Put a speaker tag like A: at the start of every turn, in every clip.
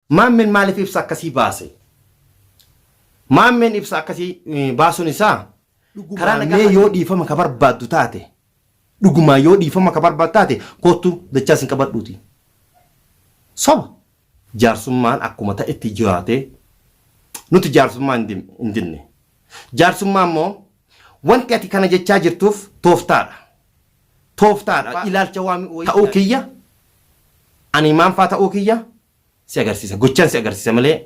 A: Maammeen maaliif ibsa akkasii baase? Maammeen ibsa akkasii baasuun isaa karaa nagaa mee yoo dhiifama ka barbaaddu taate dhugumaa yoo dhiifama ka barbaaddu taate kottu dachaa sin qabadhuuti. Soba. Jaarsummaan akkuma ta'etti jiraate nuti jaarsummaa hin dinne. Jaarsummaa immoo wanti ati kana jechaa jirtuuf tooftaadha. tooftaa dha, ilaalcha waan ta'uu kiyya, ani maal faa ta'uu kiyya si agarsiisa. Gochaan si agarsiisa malee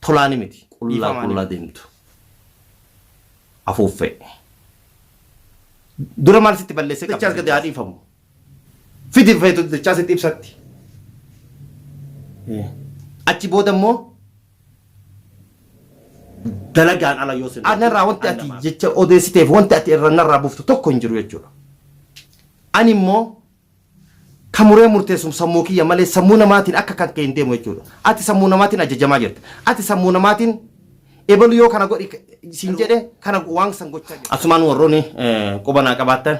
A: tolaani miti. Qullaa qullaa deemtu afuuffee. Dura maal sitti balleessee qabda? Dachaas gadi haa dhiifamu. Fidi feetu dachaas itti ibsatti. Achi booda immoo dalagaan ala yoo sin anarraa wanti ati jecha odeessiteef wanti ati irra narraa buftu tokko hin jiru jechuudha. Ani immoo kan muree murteessum sammuu kiyya malee sammuu namaatiin akka kan kee hin deemu jechuudha. Ati sammuu namaatiin ajajamaa jirta. Ati sammuu namaatiin ebalu yoo kana godhi siin jedhe kana waan san gochaa jirta. Asumaan warroonni quba naa qabaattan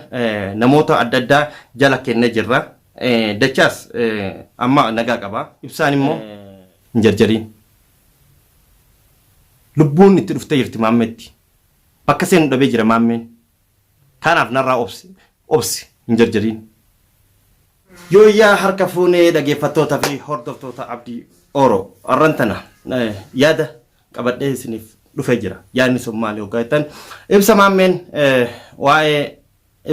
A: namoota adda addaa jala kennee jirra. Dachaas amma nagaa qaba. Ibsaan immoo Hin jarjariin. Lubbuun itti dhuftee jirti Maammeetti. Bakka seenu dhabee jira Maammeen. Kanaaf narraa obsi. Obsi. Hin jarjariin. Yooyyaa harka fuune dhageeffattoota fi hordoftoota Abdii Oro. Arran tana yaada qabadhee isiniif dhufee jira. Yaadni sun maali hoggaa jettan ibsa Maammeen waa'ee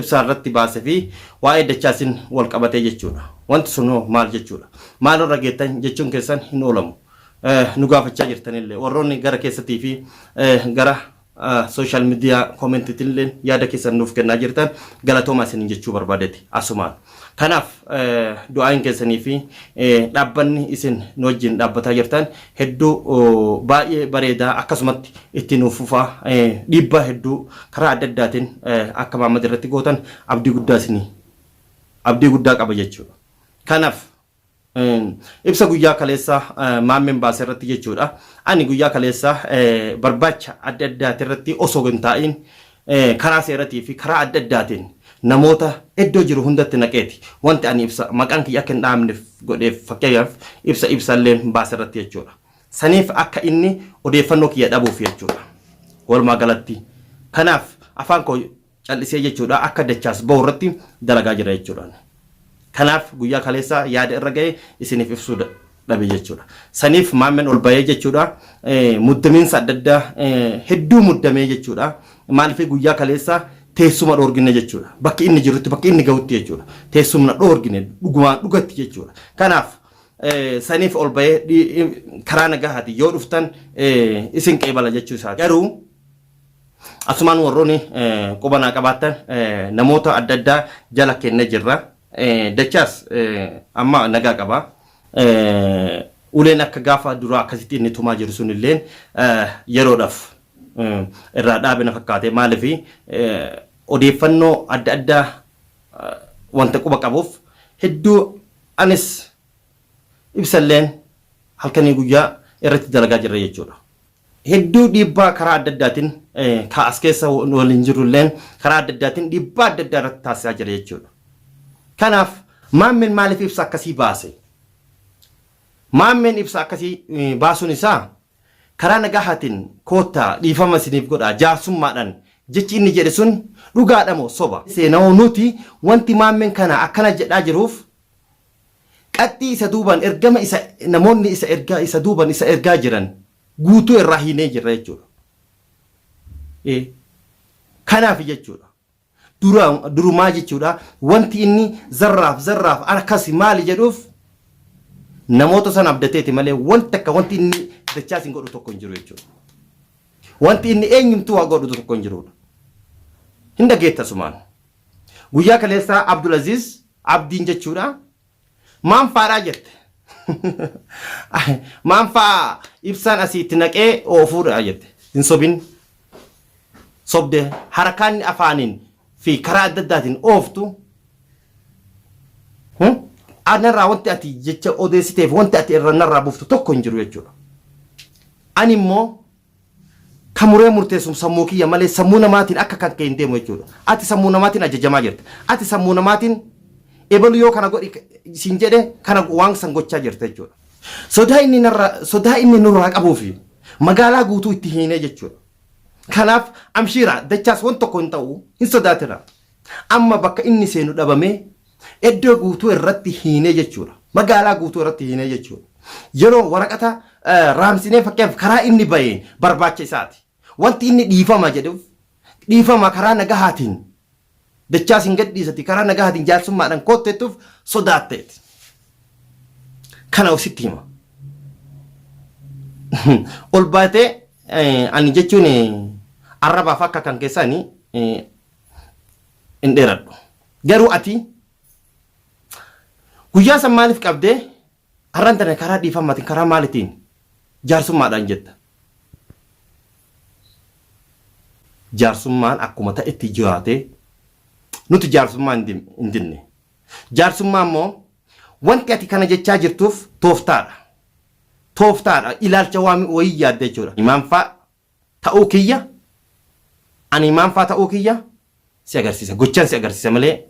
A: ibsaa irratti baase fi waa'ee dachaasin wal qabatee jechuudha. Wanti sun hoo maal jechuudha? Maaloo irra geettan jechuun keessan hin oolamu. Nu gaafachaa jirtanillee warroonni gara keessatii fi gara social media commentitinilleen yaada keessan nuuf kennaa jirtan galatoomaa isinin jechuu barbaadeti asumaan. Kanaaf du'aayin keessanii fi dhaabbanni isin nu wajjin dhaabbataa jirtan hedduu baay'ee bareedaa akkasumatti itti nuuf fufaa dhiibbaa hedduu karaa adda addaatiin akka Maammad irratti gootan abdii guddaa isinii abdii guddaa qaba jechuudha. Kanaaf Ibsa guyyaa kaleessa Maammeen baase irratti jechuudha. Ani guyyaa kaleessa barbaacha adda addaati irratti osoo hin taa'iin karaa seeratii fi karaa adda addaatiin namoota iddoo jiru hundatti naqeeti wanti ani ibsa maqaan kiyya akka hin dhaamneef godheef fakkeenyaaf ibsa ibsalleen baase irratti jechuudha. Saniif akka inni odeeffannoo kiyya dhabuuf jechuudha. Walumaa galatti kanaaf afaan koo cal'isee jechuudha akka dachaas bahu irratti dalagaa jira jechuudha. Kanaaf guyyaa kaleessaa yaada irra ga'e isiniif ibsuu dhabe jechuudha. Saniif maammeen ol bahee jechuudha muddamiinsa adda addaa hedduu muddamee jechuudha. Maaliif guyyaa kaleessaa teessuma dhoorgine jechuudha. Bakki inni jirutti bakki inni gahutti jechuudha. Teessumna dhoorgine dhugumaan dhugatti jechuudha. Kanaaf saniif ol bahee karaa nagahaati yoo dhuftan isin qeebala jechuu isaati. Garuu Asumaan warroonni quba naa qabaattan namoota adda addaa jala kenne jirra. Dachaas amma nagaa qaba. Uleen akka gaafa duraa akkasitti inni tumaa jiru sun illeen yeroodhaaf irraa dhaabe na fakkaate maaliif odeeffannoo adda addaa wanta quba qabuuf hedduu anis ibsalleen halkanii guyyaa irratti dalagaa jirra jechuudha. hedduu dhiibbaa karaa adda addaatiin ka as keessa waliin jirulleen karaa adda addaatiin dhiibbaa adda addaa irratti taasisaa jira jechuudha. Kanaaf maammeen maaliif ibsa akkasii baase? Maammeen ibsa akkasii baasuun isaa karaa nagahaatiin koottaa dhiifama isiniif godhaa jaarsummaadhaan jechi inni jedhe sun dhugaadha moo soba? Seenawoo nuti wanti maammeen kana akkana jedhaa jiruuf Qaxxii isa duubaan ergama isa namoonni isa ergaa isa duuban isa ergaa jiran guutuu irraa hiinee jirra jechuudha. Ee kanaaf jechuudha. Dura durumaa jechuudha wanti inni zarraaf zarraaf akkasi maali jedhuuf namoota san abdateeti malee wanti akka wanti inni dachaa isin godhu tokko hin jiru jechuudha. Wanti inni eenyumtuu waa godhu tokko hin jirudha. Hin dhageetta sumaan. Guyyaa kaleessaa Abdulaziz Abdiin jechuudha. Maan faadhaa jette. Maan faa ibsaan asii itti naqee oofuudha jette. Hin sobin. Sobde harakaan afaaniin fi karaa adda addaatiin ooftu. Anarraa wanti ati jecha odeessiteef wanti ati irra narraa buftu tokko hin jiru jechuudha. Ani immoo Ka muree murteessum sammuu kiyya malee sammuu namaatiin akka kan kee hin deemu jechuudha. Ati sammuu namaatiin ajajamaa jirta. Ati sammuu namaatiin ebalu yoo kana godhi siin jedhe kana waan san gochaa jirta jechuudha. Sodaa inni narra sodaa inni nurraa qabuu fi magaalaa guutuu itti hiinee jechuudha. Kanaaf amshiira dachaas wan tokko hin ta'u hin sodaatina. Amma bakka inni seenu dhabamee Eddoo guutuu irratti hiinee jechuudha. Magaalaa guutuu irratti hiinee jechuudha. Yeroo waraqata raamsinee fakkeenyaaf karaa inni baheen barbaacha isaati. Wanti inni dhiifama jedhuuf dhiifama karaa nagahaatiin dachaa sin gadhiisati karaa nagahaatiin jaarsummaadhaan kootteettuuf sodaatteeti. Kana sitti hima. Ol baatee ani jechuun arrabaaf akka kan keessaani hin dheeradhu garuu ati guyyaa san maaliif qabdee har'an tana karaa dhiifamaatiin karaa maalitiin jaarsummaadhaan jetta jaarsummaan akkuma ta'etti jiraatee nuti jaarsummaa hin dim- hin dinne jaarsummaa immoo wanti ati kana jechaa jirtuuf tooftaadha tooftaadha ilaalcha waan wayii yaadda jechuudha imaanfaa ta'uu kiyya ani maal faa ta'uu kiyya si agarsiisa gochaan si agarsiisa malee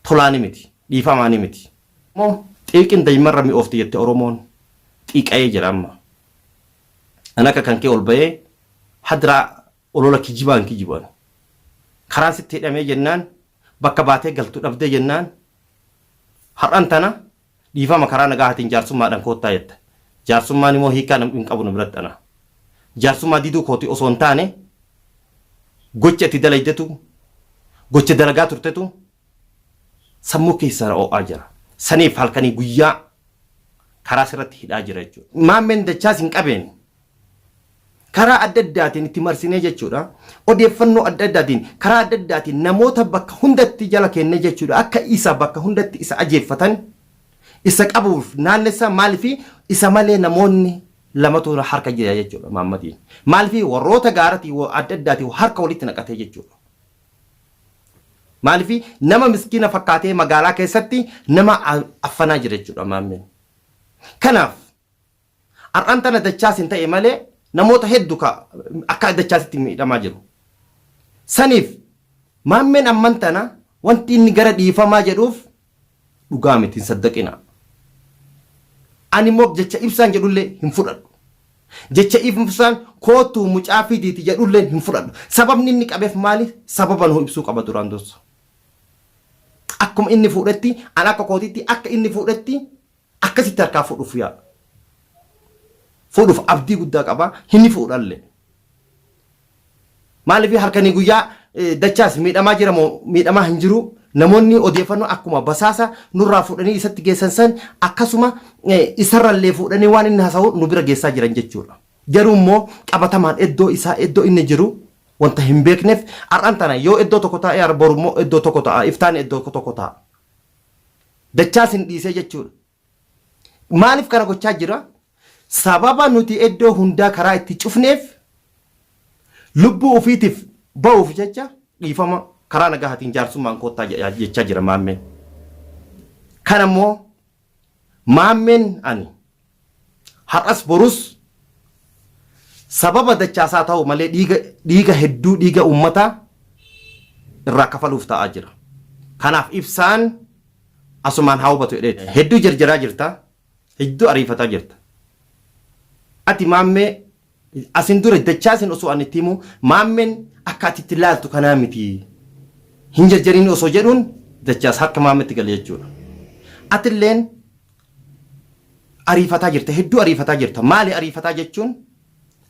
A: tolaani miti dhiifamaani miti. Oromoo xiiqin daymarra mi'oofti jette oromoon xiiqa'ee jira amma an akka kan kee ol ba'ee hadraa olola kijibaa hin kijibu ani karaan sitti hidhamee jennaan bakka baatee galtu dhabdee jennaan har'an tana Dhiifama karaa nagaahatiin jaarsummaadhaan koottaa jetta. Jaarsummaan imoo hiikkaa namdhi hin qabu na biratti anaa. Jaarsummaa diduu kooti osoo hin taane gocha itti dalaydetu gocha dalagaa turtetu sammuu keessaa na oo'aa jira. Saniif halkanii guyyaa karaa sirratti hidhaa jira jechuudha. Maammeen dachaas hin qabeen. karaa adda addaatiin itti marsinee jechuudha. Odeeffannoo adda addaatiin karaa adda addaatiin namoota bakka hundatti jala keennee jechuudha. Akka isa bakka hundatti isa ajeeffatan isa qabuuf naannessaa maalifi isa malee namoonni lamatu harka jira jechuudha maammatiin. Maalifi warroota gaaratii wa- adda addaatiin harka walitti naqatee jechuudha. Maalifi nama miskiina fakkaatee magaalaa keessatti nama a- affanaa jira jechuudha maammeen. Kanaaf Har'an tana dachaas hin ta'e malee namoota heddu ka akka dachaasitti miidhamaa jiru. Saniif maammeen amman tana wanti inni gara dhiifamaa jedhuuf dhugaa miti hin saddaqinaa. Ani immoo jecha ibsaan jedhullee hin fudhadhu. Jecha ibsaan koottuu mucaa fidiiti jedhulleen hin fudhadhu. Sababni inni qabeef maali? Sababa nuu ibsuu qaba duraan dursa. Akkuma inni fuudhetti an akka kootitti akka inni fuudhetti Akkasitti harkaa fuudhuuf yaala. Fuudhuuf abdii guddaa qaba, hin fuudhallee. Maaliif halkanii guyyaa dachaas miidhamaa jira moo miidhamaa hin jiru namoonni odeeffannoo akkuma basaasa nurraa fuudhanii isatti geessan san akkasuma isarrallee fuudhanii waan inni haasa'u nu bira geessaa jiran jechuudha. Garuu immoo qabatamaan iddoo isaa iddoo inni jiru wanta hin beekneef har'aan tana yoo iddoo tokko taa'e boru immoo iddoo tokko ta'a iftaan iddoo tokko ta'a. Dachaa sin dhiisee jechuudha. Maaliif kana gochaa jira? Sababa nuti iddoo hundaa karaa itti cufneef lubbuu ofiitiif ba'uuf jecha dhiifama karaa nagahaatiin jaarsummaan koottaa jechaa jira maammeen. Kana immoo Maammeen ani. Har'as borus sababa Dachaasaa ta'u malee dhiiga dhiiga hedduu dhiiga uummataa irraa kafaluuf ta'aa jira. Kanaaf Ibsaan asumaan haa hubatu jedheeti. Hedduu jarjaraa jirta. Hedduu ariifataa jirta. Ati Maammee Asin dura Dachaasin osoo an itti himuu Maammeen akka ati itti laaltu kanaa miti. Hin jarjarin osoo jedhuun Dachaas harka Maammeetti gale jechuudha. Atilleen ariifataa jirta, hedduu ariifataa jirta. Maali ariifataa jechuun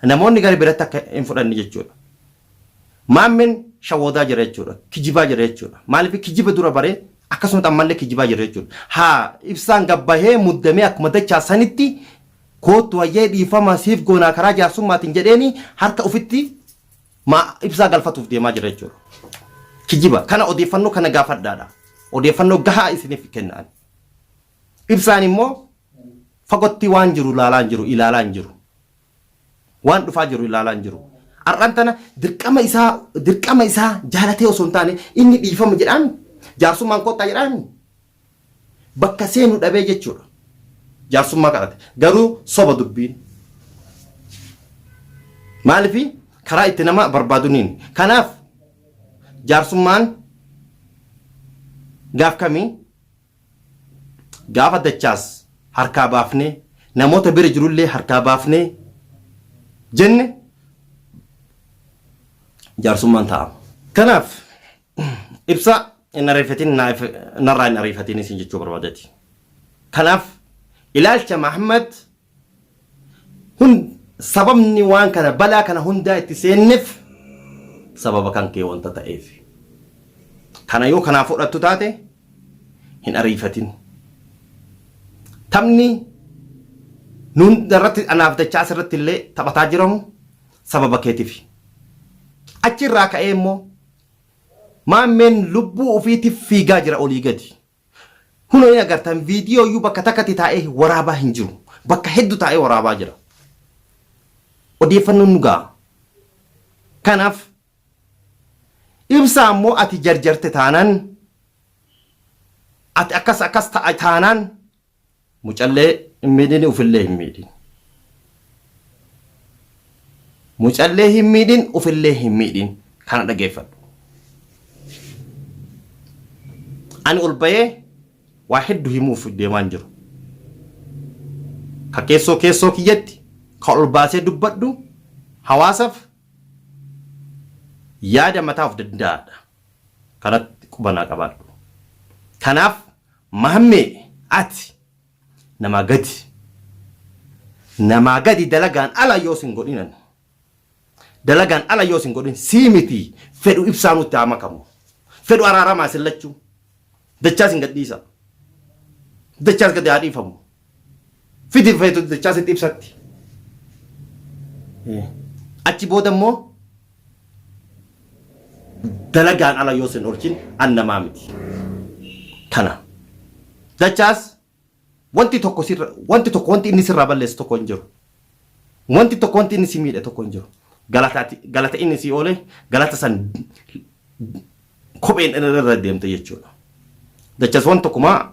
A: namoonni gara biratti akka hin fudhanne jechuudha. Maammeen shawwoodaa jira jechuudha. Kijibaa jira jechuudha. Maaliif kijiba dura bare akkasumatti ammallee kijibaa jira jechuudha. Haa Ibsaan gad bahee muddamee akkuma Dachaas sanitti Koottu hayyee dhiifama siif goonaa karaa jaarsummaatiin jedheeni harka ofitti maa ibsaa galfatuuf deemaa jira jechuudha. Kijiba kana odeeffannoo kana gaafadhaadha. Odeeffannoo gahaa isiniif kenna ani. Ibsaan immoo fagotti waan jiru ilaalaa hin jiru ilaalaa hin jiru. Waan dhufaa jiru ilaalaa hin jiru. Har'aan tana dirqama isaa dirqama isaa jaalatee osoo hin taane inni dhiifama jedhaan jaarsummaan koottaa jedhaan bakka seenu dhabee jechuudha. Jaarsummaa kadhate. Garuu soba dubbiin. Maalifi karaa itti nama barbaaduniin. Kanaaf jaarsummaan gaaf kamii gaafa dachaas harkaa baafnee namoota bira jirullee harkaa baafnee jenne jaarsummaan taa'ama. Kanaaf Ibsa hin ariifatin narraa hin ariifatin isin jechuu barbaadeti. Kanaaf ilaalcha Mahammad hun sababni waan kana balaa kana hundaa itti seennef sababa kan kee wanta ta'eef. Kana yoo kanaa fudhattu taate hin ariifatin. Taphni nuun irratti anaaf dachaa asirratti illee taphataa jiramu sababa keetifi. Achi irraa ka'ee immoo Maammeen lubbuu ufiitiif fiigaa jira olii gadi. Kunoo hin agartan viidiyoo iyyuu bakka takkatti taa'ee waraabaa hin jiru. Bakka heddu taa'ee waraabaa jira. Odeeffannoon nu ga'a. Kanaaf ibsaa immoo ati jarjarte taanaan ati akkas akkas ta'a taanaan Mucallee hin miidhin ufillee hin miidhin. Mucallee hin miidhin ufillee hin miidhin kana dhageeffadhu. Ani ol bahee waa heddu himuuf deemaan jiru. Ka keessoo keessoo kiyyatti ka ol baasee dubbadhu hawaasaf yaada mataa of danda'aadha. Kanatti qubanaa qabaadhu. Kanaaf Mahammee ati namaa gadi namaa gadi dalagaan ala yoo sin godhin ani dalagaan ala yoo sin godhin sii miti fedhu ibsaa nutti haa makamu fedhu araaramaa isin lachuu dachaa sin gadhiisa dachaas gadi haa dhiifamu fidi feetu jechaa sitti ibsatti. Achi booda immoo dalagaan ala yoo sin oolchin an namaa miti. Kana. Dachaas wanti tokko sirra wanti tokko wanti inni sirraa balleessu tokko hin jiru. Wanti tokko wanti inni si miidhe tokko hin jiru. Galataati galata inni si oole galata san kopheen irra deemte jechuudha. Dachaas wanti tokkumaa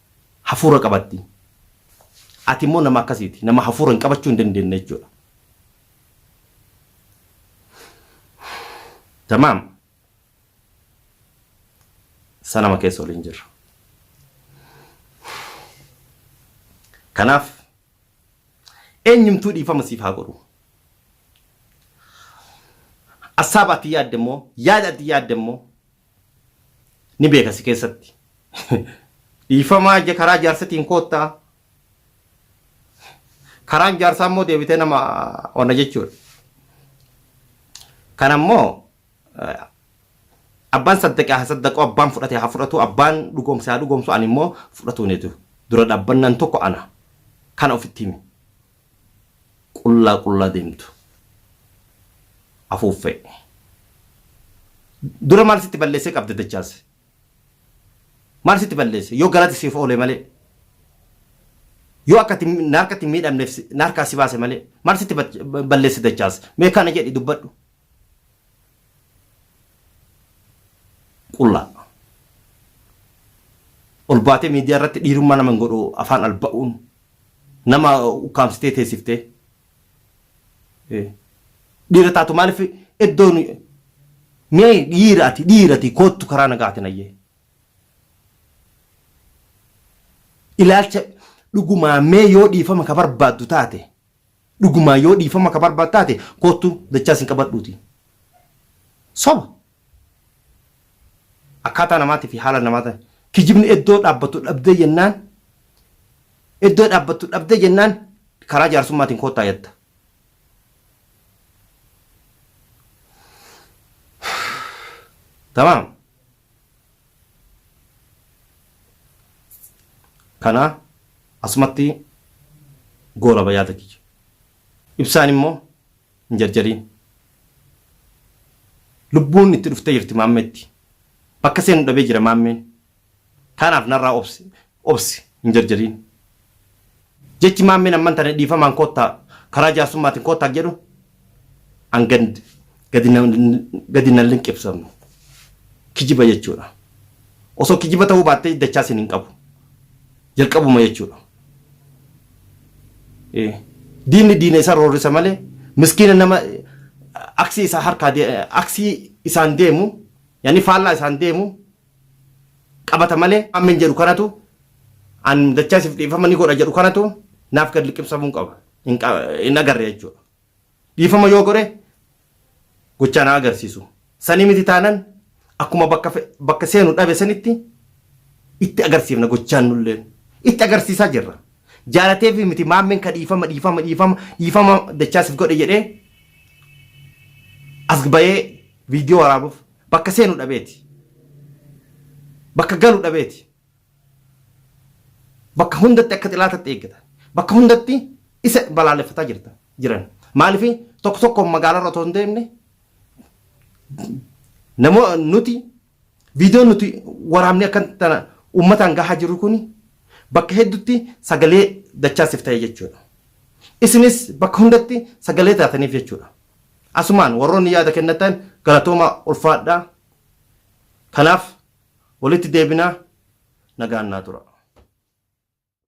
A: hafuura qabatti. Ati immoo nama akkasiiti. Nama hafuura hin qabachuu hin dandeenye jechuudha. Tamaam. Sanama keessa waliin jirra. Kanaaf eenyumtuu dhiifama siif haa godhu. Assaaba ati yaadde immoo yaada ati yaadde immoo ni beeka si keessatti dhiifamaa ija karaa jaarsatiin koottaa karaan jaarsaa immoo deebitee nama ona jechuudha. Kan ammoo abbaan saddaqe haa saddaqu abbaan fudhate haa fudhatu abbaan dhugoomse haa dhugoomsu ani immoo fudhatuun hedu dura dhaabbannan tokko ana kana ofitti himi qullaa qullaa deemtu afuuffee. Dura maal sitti balleessee qabda Dachaas? Maal sitti balleesse? Yoo galati siif oole malee. Yoo akka itti na harkatti hin miidhamneef si- na harkaa si baase malee. Maal sitti bat- balleesse Dachaas? Mee kana jedhi dubbadhu. Qullaa. Ol baatee miidiyaa irratti dhiirummaa nama hin godhu afaan alba'uun Nama ukkaamsitee teessiftee dhiira taatu maaliif iddoon mee dhiira ati dhiira ati koottu karaa nagaatiin ayyee. Ilaalcha dhugumaa mee yoo dhiifama ka barbaaddu taate dhugumaa yoo dhiifama ka barbaaddu taate koottu dachaa sin qabadhuuti. Soba Akkaataa namaatii fi haala namaa ta'e. Kijibni eddoo dhaabbattu dhabdee jennaan eddoo dhaabbattu dhabdee jennaan karaa jaarsummaatiin koottaa jetta. Tamaam. Kana asumatti goolaba yaada kiyya. Ibsaan immoo Hin jarjariin. Lubbuun itti dhuftee jirti Maammeetti. Bakka seenu dhabee jira Maammeen. Kanaaf narraa obsi. Obsi. Hin jarjariin. Jechi Maammeen amman tana dhiifamaan koottaa karaa jaarsummaatiin koottaa jedhu an gad gadi na gadi na linqibsamnu. Kijiba jechuudha. Osoo kijiba ta'uu baattee dachaa sin hin qabu. jalqabuma jechuudha. Diinni diina isaa roorrisa malee miskiina nama aksii isaa harkaa aksii isaan deemu yaani faallaa isaan deemu qabata malee ammen jedhu kanatu an dachaa isif dhiifama ni godha jedhu kanatu naaf gad liqimsamuun qaba hin agarre jechuudha. Dhiifama yoo godhe gochaan haa agarsiisu. Sanii miti taanan akkuma bakka bakka seenu dhabe sanitti itti agarsiifna gochaan nulleen. Itti agarsiisaa jirra. Jaalateefi miti Maammeen ka dhiifama dhiifama dhiifama dhiifama dachaa sif godhe jedhee as bayee viidiyoo waraabuuf bakka seenu dhabeeti. Bakka galu dhabeeti. Bakka hundatti akka xilaatatti eeggatan. Bakka hundatti isa balaaleffataa jirtan jiran. Maaliif tokko tokkoon magaalarra otoo hin deemne namoo nuti viidiyoo nuti waraabnee akka tana uummataan gahaa jiru kun bakka hedduutti sagalee dachaasiif ta'e jechuudha. Isinis bakka hundatti sagalee taataniif jechuudha. Asumaan warroonni yaada kennatan galatooma ulfaadhaa. Kanaaf Walitti deebinaa nagaan naa turaa.